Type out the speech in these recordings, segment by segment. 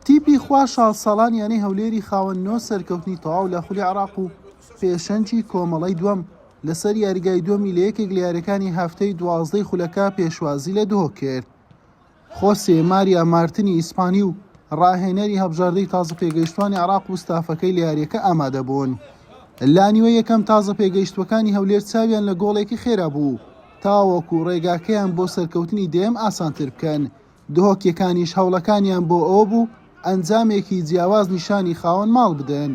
تیپی خوا شاڵ ساڵان یانەی هەولێری خاوەن نۆ سەرکەوتنی تەواو لە خولی عێراق و پێشەنگی کۆمەڵەی دووەم لەسەر یاریگای دووەمی لە یەکێک لە یاریەکانی هەفتەی دوازدەی خولەکە پێشوازی لە دهۆک کرد. خۆسێ ماریا مارتنی ئیسپانی و راهێنەری هەبژاردەی تازە پێگەیشتوانی عێراق و ستافەکەی لە یاریەکە ئامادەبوون. لانیوە یەکەم تازە پێگەیشتوەکانی هەولێر چاویان لە گۆڵێکی خێرا بوو. تاوەکو ڕێگاکەیان بۆ سەرکەوتنی دەیەم ئاسانتر بکەن، دهۆکیەکانیش هەوڵەکانیان بۆ ئەوە بوو ئەنجامێکی جیاواز نیشانی خاوەن ماڵ بدەن،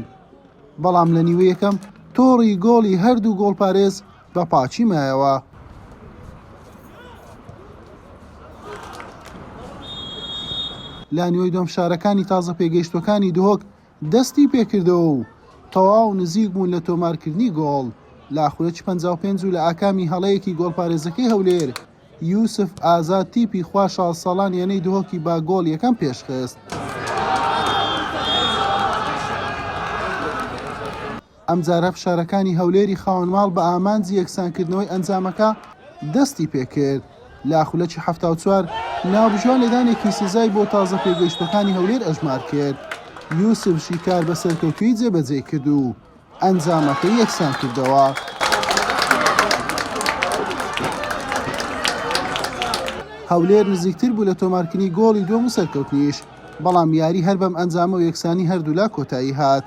بەڵام لە نیوەی یەکەم تۆڕی گۆڵی هەردوو گۆڵپارێز بە پاکی مایەوە. لە نیوەی دووەم فشارەکانی تازە پێگەیشتووەکانی دهۆک، دەستی پێکردەوە و تەواو نزیک بوون لە تۆمارکردنی گۆڵ لە خولەکی پەنجا و پێنج و لە ئاکامی هەڵەیەکی گۆڵپارێزەکەی هەولێر، یوسف ئازاد تیپی خوا شازدە ساڵان یانەی دهۆکی بە گۆڵ یەکەم پێشخست. ئەمجارە فشارەکانی هەولێری خاوەن ماڵ بە ئامانجی یەکسانکردنەوەی ئەنجامەکە دەستی پێکرد، لە خولەکی حەفتا و چوار ناوبژیوان لێدانێکی سزای بۆ تازە پێگەیشتووەکانی هەولێر ئەژمار کرد، یوسف شیکار بە سەرکەوتوویی جێبەجێی کرد و ئەنجامەکەی یەکسانکردەوە. هەولێر نزیکتر بوو لە تۆمارکردنی گۆڵی دووەم و سەرکەوتنیش، بەڵام یاری هەر بەم ئەنجامە و یەکسانی هەردوولا کۆتایی هات.